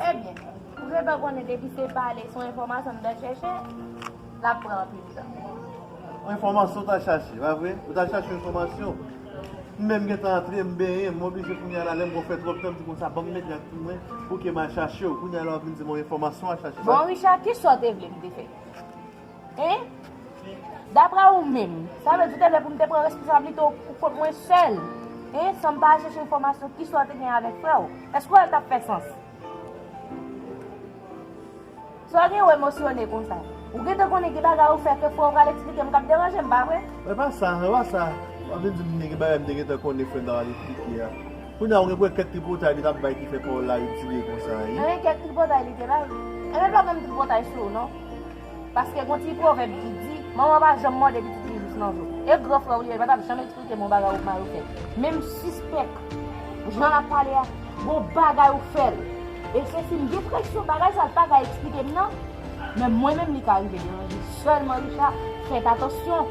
Ebyen, ou gentan konnen depi se pale sou enfòmasyon m ta chèche, l ap pran anpil tan. Yon enfòmasyon w ta chache, pa vre? Ou ta chache yon enfòmasyon. M menm gentan antre, m benyen, m oblije kounye a la, lè m wè w fè twòp tan, m di konsa ban m mete ak pou mwen, pou ke m al chache w. Kounye a la w ap vin di m yon enfòmasyon w al chache. Bon Richard, ki sa w te vle m te fè? Hein? Dapre ou menm, sa vle di te lè pou m te pran responsablite w pou kont mwen sèl? Hein? San m pa al chèche enfòmasyon ki swa w te gen avèk frè w? Èske w wè l t ap fè sans? Sa w gen wè emosyone konsa? Ou gen tan konnen gen bagay ou fè ke frè w pral eksplike m k ap deranje m, pa vre? E pa sa, e pa sa. W ap vin di m gen bagay m te gen tan konnen frè m t ap al eksplike a. Kounye a ou gen pou wè kèk tripotay li t ap bay ki fè pawòl la ritire konsa, hein? Hein, kèk tripotay li te bay? Enben m p ap ban m tripotay sou ou non. Paske gon ti pwovèb ki di, manman pa janm mòde pitit li jous nan zo. E gran frè w li yo, li pa t ap janm eksplike bon bagay ou mari w fè. Men m sispèk, jan l ap pale a, gon bagay ou fè l. E se si m gen presyon, bagay sa l pa ka eksplike m nan. Men mwen menm li ka rive deranje. Sèlman Richard, fèt atansyon.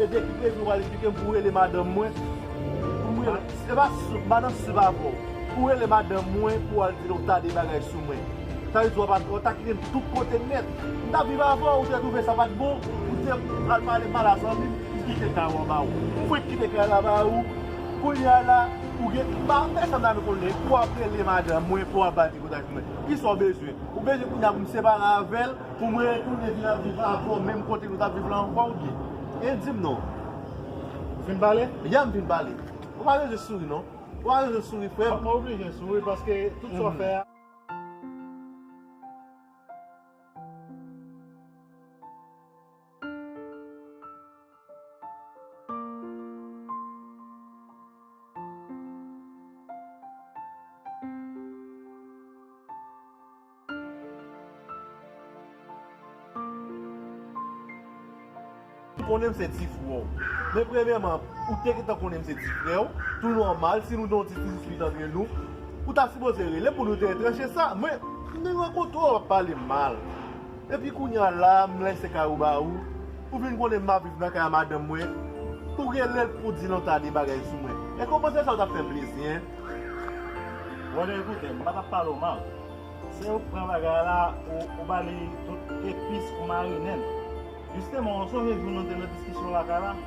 E depi prezidan pral esplike m pou rele madanm mwen pou m rele e pa madanm si se pa avè w pou rele madanm mwen pou al di l ou ta de bagay sou mwen sa vle di wap al ou ta kite m tout kote nèt m ta viv avè w ou te twouve sa pat bon ou te al pale mal a zanmi m m kite kay lan ba ou m fwenk kite kay la ba ou kounye a la ou gen m pa fè sa m ta vle konnen pou wap rele madanm mwen pou wap al di bagay sou mwen kisa w bezwen ou bezwen kounye a pou m separe avè l. Pou mwen retounen vin ap viv avèw menm kote nou tap viv lan ankò ou byen? E dim non. Ou fin pale? Ya m fin pale. Ou pa bezwen souri non. Ou pa bezwen souri frè m. Mwen oblije souri paske tout sa w fè a. Konnen m se ti frè w. Men premyèman, ou te gentan konnen m se ti frè w, tou nòmal, si nou gen yon ti kouz fi nan men nou, ou ta sipoze rele pou nou te entranche sa. Men, m te rankontre w ap pale mal. Epi kounya la m lèse kay ou ba ou, ou vin konnen m ap viv nan kay a madanm mwen, ou rele l pou di lontan de bagay sou mwen. Èske w panse sa yo t ap fè m plezi, hein? Brother ekoute, m pa t ap pale w mal. Se ou k pran bagay la, ou ba li tout epis, ou marinen l. Jisteman, ou sonje jou nou te nan diskisyon lakay la?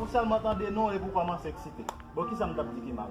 Ou sèlman tande non epi ou kòmanse eksite. Bon kisa m tap di ki mal?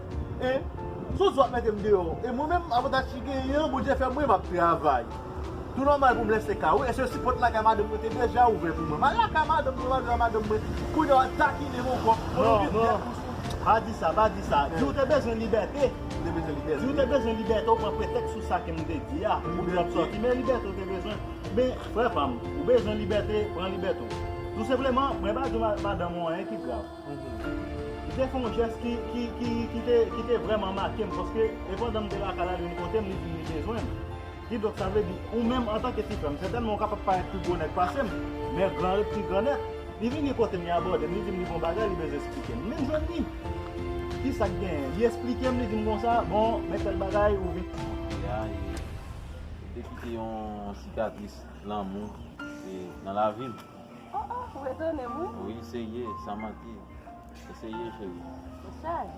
E Sou sou ap mete m deyò e mwen menm avantaj ki genyen an Bondye fè mwen map travay tou nòmal pou m lèse kay wi eske si pòt lakay madanm mwen te deja ouvè pou mwen m al lakay madanm mwen m al viv a madanm mwen kounye a wap takine m ankò non non pa di sa pa di sa di ou te bezwen libète m te bezwen libète di ou te bezwen libète ou pran pretèks sou sa ke m te di a ou te ap sòti men libète ou te bezwen men frè pa m ou bezwen libète pran libète ou tou senpleman mwen pa di madanm ou anyen ki grav. Li te fè yon jès ki te vrèman make m paske e pandan m te lakay la li vin kote m li di m li bezwen m. Kidonk sa vle di ou menm antanke ti frè m sètènman ou kapab parèt pi gwo nèg pase m men gran ret pi gran nèt. Li vini kote m li abòde m li di m li gen yon bagay li bezwen esplike m. M vin jwenn li. Kisa k genyen? Li esplike m li di m konsa bon men tèl bagay ou vin. Montre a e li te kite yon sikatris lanmou nan lavi m. Oh oh ou etone m wi. Wi se ye san manti e se ye cheri. Ou saj.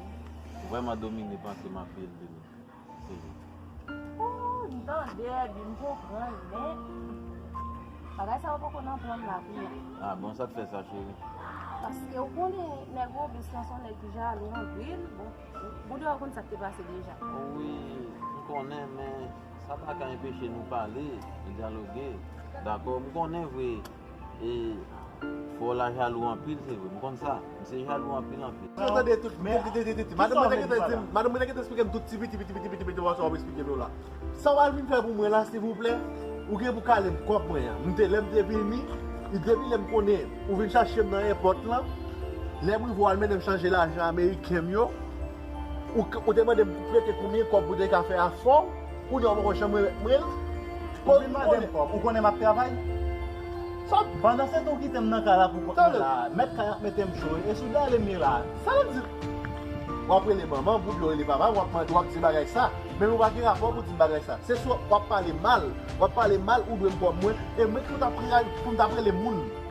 Ou vreman domine panse m anpil de nou cheri. Ooh m tande epi m konprann men bagay sa yo poko nan plan m la pou mwen. Ah bon sa k fè sa cheri. Paske ou konnen nèg Robes lan se yon nèg ki jalou anpil bon ou dwe konn sa k te pase deja. Wi m konnen men. Sa pa ka enpeche nou pale, dyaloge. Dakò, m konnen vre e fò la jalou anpil se vre. M konn sa. M se jalou anpil anpil. Ti, ou tande tout. Men, ti, ti, ti. Madanm mwen te gentan di m, madanm mwen te gentan esplike m tout ti piti, piti, piti, piti, piti mòso w ap esplike nou la. Sa w al vin fè pou mwen la, silvouplè? Ou gen pou kale m kòk mwen an. M te, lè m te vini, depi lè m konnen ou vin chache m nan èpòt lan, lè m rive w al mennen m chanje lajan ameriken m yo. Ou te mande m pou prete konbyen kòb pou te ka fè afè w, kounye a ou poko janm remèt mwen l. Ou vin mande m kòb, ou konnen m ap travay? Sa w. Pandan se tan w kite m nan kay la pou kont mwen la a, mèt kay ap mete m cho, e sou dèyè l e m ye la a. Sa w ap di l? W ap rele manman m oubyen w rele papa m, w ap mande, w ap di bagay sa, men ou pa gen rapò pou di m bagay sa. Se swa w ap pale mal, w ap pale mal ou dwe m kòb mwen, e mwen ki pou t ap rele moun.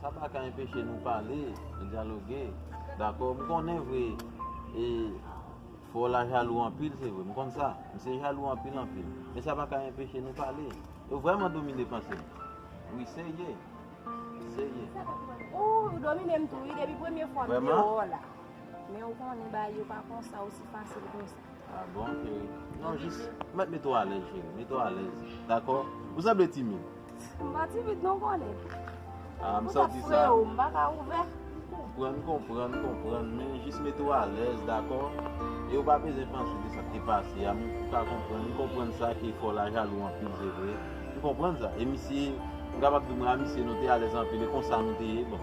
Sa pa ka enpeche nou pale, dyaloge. Dakò, m konnen vre e fò la jalou anpil se vre. M konn sa. M se jalou anpil anpil. Men sa pa ka enpeche nou pale. Yo vrèman domine panse m. Wi, se ye. Se ye. Ooh, ou domine m tou wi depi premye fwa m te wè w la. Men ou konnen bagay yo pa konsa osi fasil konsa. Ah bon chérie non jis mèt mete w alèz chérie mete w alèz dakò ou sanble timid m pa timid non kone ah m santi sa pou sa freo m pa ka ouvè m konprann m konprann m konprann men jis mete w alèz dakò e ou pa bezwen panse de sa k te pase a men ou ka konprann m konprann sa ke fè w la jalou anpil se vre m konprann sa e misye m kapab di w mwen a misye nou te alèz anpil e konsa nou te ye bon.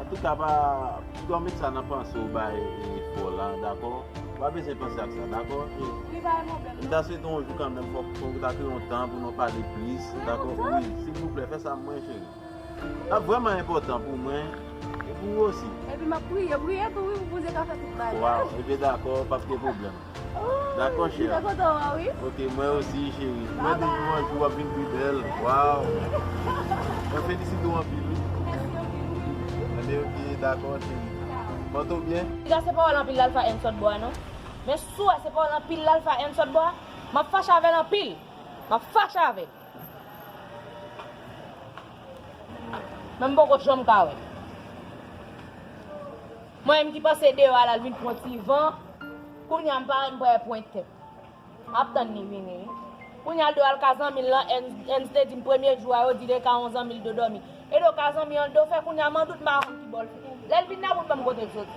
An tou ka pa Piga w met sa nan panse w bay fo lan dakò Ou pa bezwen panse ak sa dakò M ta swete yon jou kanmenm fòk ou ta kreye yon tan pou nou pale plis dakò Wi silvouplè fè sa pou mwen cheri L ap vrèman enpòtan pou mwen e pou ou osi Epi m ap priye priye tou wi pou Bondye ka fè tout bagay Waw ebyen dakò pa p gen pwoblèm. Dako cheri. Mwen kontan wè w wi. Ok mwen osi cheri. Mwen te di w anjou wap vin pi bèl. Waw. Mwen felisite w anpil wi. Mèsi anpil. Ebyen ok dako cheri. Pòte w byen. Piga se pawòl anpil lalfa en sòt bo a non. Men si w wè se pawòl anpil lalfa en sòt bo a, map fache avè l anpil. Map fache avè l. Men m poko janm ka wè l. Mwen menm ki pase deyò a lal vin pran ti van kounya m pare m pral pwen tèt map tann li vini wi kounya l do al ka zanmil lan Ernst te dim premye jou a yo di lè ka yon zanmil do dòmi e do ka zanmi an l do fè kounya man dout m pa konn kibò l lèl vin nan wout banm kotel soti.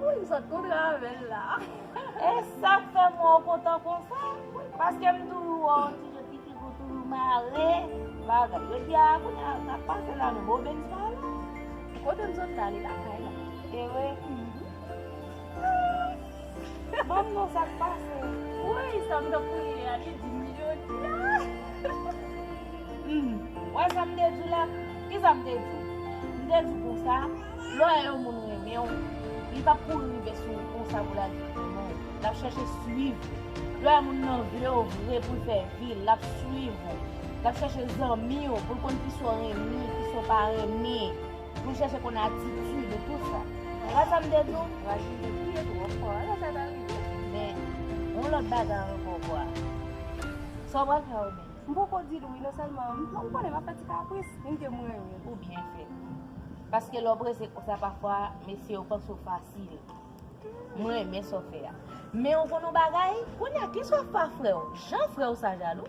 Wouyy m sot kontre avèl la. E sak fè m wè w kontan konsa? Paske m toujou wè w an ti je piti pou w toujou mare bagay. Yo di a kounye a sak pase la menm? Obenn sa la? Kote m sot la li lakay la. Ewe? Banm non sak pase. Wouyy sa m tap kriye a li dim li odi a. Wè sa m te diw la. Kisa m te diw. M te diw konsa lè yon moun renmenw li pap kouri rive sou ou konsa pou lal di li renmen w. Lap chache swiv ou. Lè yon moun nan vlew vre poul fè vil lap swiv ou. Lap chache zanmiw poul konn kisa w renmen kisa w pa renmen. Mwen chèche konn atitid e tout sa. Konpa sa m te di w? Rachid te kriye twò fò. Alò sa ta rive. Men, gon lòt bagay ankò kwa. Sa w pral fè a oubyen? M poko di l wi non sèlman m konnen m ap fè ti kapris. Li mnke m renmen l. Ou byen fè. Paske lè w prese konsa pafwa mesye yo panse w fasil. M renmen sa w fè a. Men ou konn yon bagay? Kounye a ki sòf pa frè w. Jan frè w sa jalou?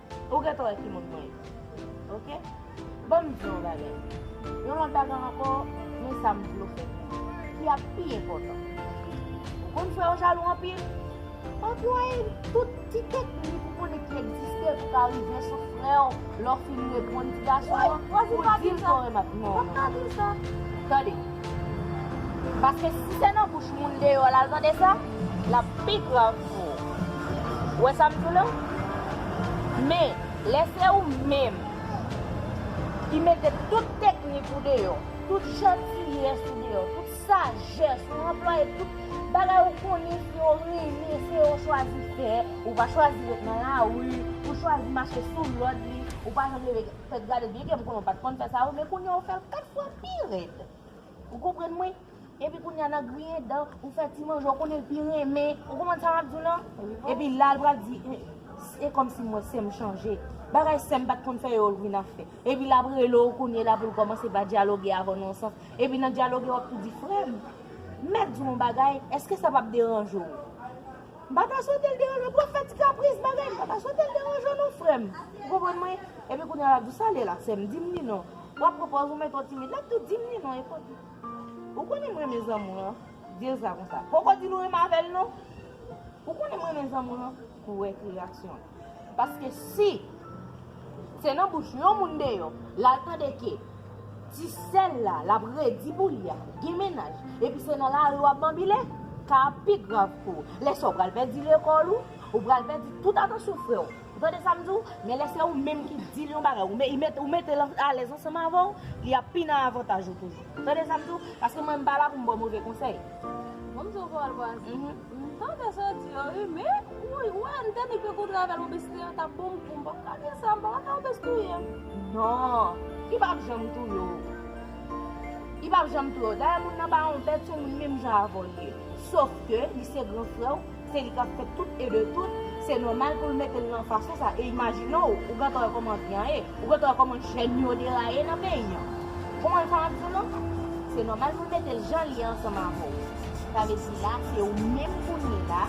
Ou gentan wè ki moun mwen ye. Ok. Ban m di w yon bagay. Yon lòt bagay ankò, men sa m vle w fè konnen, ki ap pi enpòtan. Ou konn frè w jalou anpil? Anplwaye tout ti teknik ou konnen ki egziste pou w ka rive sou frè w lè w fin reponn ti gason an pou w di l ke w renmen l. Non, non. Tande! Paske si se nan bouch moun deyò lal tande sa, lap pi grav pou ou. Ou wè sam di w la? Men, lè se ou menm ki mete tout teknik ou deyò, tout jantiyès ou deyò, tout sajès ou anplwaye, tout bagay ou konnen se yo renmen, se yo chwazi fè, ou pa chwazi ret nan lari, ou chwazi mache sou lòd li, ou pa janm leve. Fèt gade byen kèm konnen w pat konn fè sa wi men kounya ou fèl 4 fwa pi rèd ou konprann mwen epi kounya nan griyen dan ou fè ti manje ou konnen l pi renmen ou konprann sa map diw lan epi la l pral di se kòmsi mwen sèm chanje bagay sèm pat konn fè yo l vin ap fè epi lap rele w kounye la pou l kòmanse va dyaloge avèw nan yon sans epi nan dyaloge wap tou di frèm mèt diw yon bagay èske sa pap deranje w. M pa ta swetel deranje w pwofèt ti kapris bagay m pa ta swetel deranje w non frèm ou konprann mwen epi kounya lap di sa lè la sèm dim ni non wap pran pòz ou mèt on timid lap tou dim ni non epòk li ou konnen m renmen zanmi w lan dil sa konsa poko dil ou renmen avèl non ou konnen m renmen zanmi w lan pou wè ki reyaksyon l. Paske si Se nan bouch yon moun deyò lal tande ke Ti sèl la lap redi pou li a gen mennaj epi se nan lari wap banbile Ka ap pi grav pou ou Lè sa ou pral pèdi lekòl ou Ou pral pèdi tout atansyon frè ou Ou tande sam di ou Men lè se ou menm ki dil yon bagay ou metel alèz ansanm avè ou Li ap pi nan avantaj ou toujou Ou tande sam di ou Paske mwen m pa la poum baw move konsèy Mwen m di ou vwa al vwa al vwa M tande sa w di yo wi men ou wè m tande ke gwo travèl Robespierre an tap bon kou m pap ka di sa m paka fè Robes touye m non li pap janm touye w li pap janm touye w dayè moun nan pa yon bèt se yon moun menm jan avè w l ye sof ke li se gran frè w se li kap fè tout e de tout se nòmal pou l mete l nan fason sa e imajine w ou gentan wè kòman vi an ye ou gentan wè kòman jèn yo deraye nan peyi an ou konprann sa map di w lan se nòmal pou l mete l jan l ye ansanm avè w. Sa vle di la se ou menm kounye la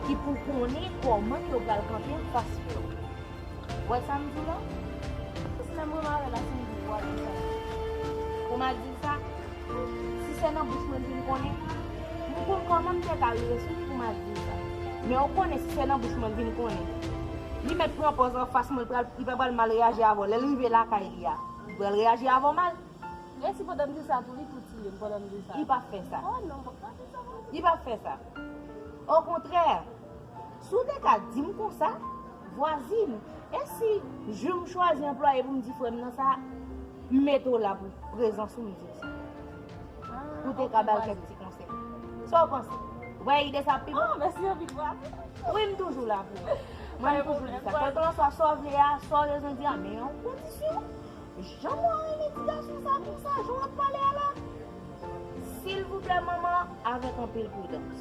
ki pou konnen kòman yo pral kanpe anfas frè ou. Wè sa m di lan? Sis menm mwen mare la si m di vwa li chanje. Pou m al di l sa? Si se nan bouch mwen m vin konnen? M konn kòman m te ka rive sou li pou m al di l sa. Men ou konnen si se nan bouch mwen m vin konnen? Li mèt pran pòz anfas mwen, li pa pral mal reyaji avè w. Lè l rive lakay li a, li pral reyaji avè w mal. Resi pandan m di sa tou li tou tiye m pandan m di sa. Li pap fè sa. Oh non m pap ka di sa non. Li pap fè sa. O kontrè, si w te ka di m konsa, vwazin, e si jou m chwazi anplwaye pou m di frè m nan sa, m mete w la pou prezan sou mizik sa. Ou te ka ba l kèk ti konsèy. Sa w panse? Ou pa wè ide sa ap pi bon? Oh mèsi anpil vwazin. Wi m toujou la pou ou. Mwen m toujou di sa. Kèlkelanswa sa w vle a, sa w bezwen di a, men yon kondisyon. Janm wa renmen ti gason sa konsa jan wap pale a la silvouplè manman avèk anpil pridans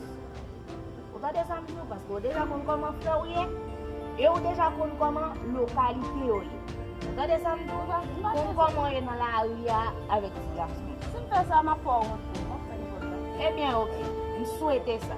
ou tande sam diw paske ou deja konn kòman frèw ye e ou deja konn kòman lokalite yo ye ou tande sam diw konn kòman ou ye nan lari a avèk ti gason sim fè sa map fè ou wont tou ebyen ok m swete sa.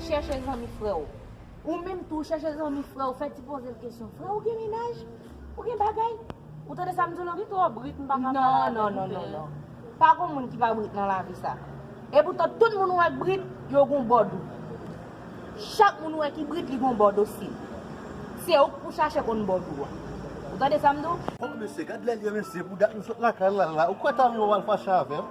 Chèche zanmi frè w. Ou menm tou, chèche zanmi frè w, fè ti poze l kesyon, Frè ou gen mennaj? Ou gen bagay? Ou tande sa m di w la? Li twò brit, m pa ka pale avè l. Non, non, non, non. Pa gon moun ki pa brit nan lavi sa. Epoutan, tout moun ou wè k brit, yo gon bò do. Chak moun ou wè ki brit, li gon bò do si. Se ou k pou chache konn bò do a. Ou tande sa m di w? O mesye, gad lè l ye mesye, pou dat m sot lakay la la. Ou kwè ta rive w al fache avè m?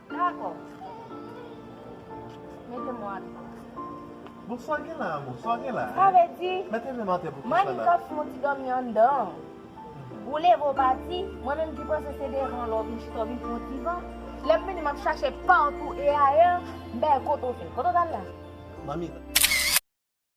Dakò. Mete mwen atò. Bon sa w gen la amò? Sa w gen la? Sa vle di. Mete men m atè pou kisa la? Mani kòf moun ti dòmi anndan an. Ou leve ou pati. Mwen menm ki panse se devan lè w vin chita w vin pran ti van. Lè m vini m ap chache patou e ayè. M pa wè kote w te. Kote w t al la? Manmi.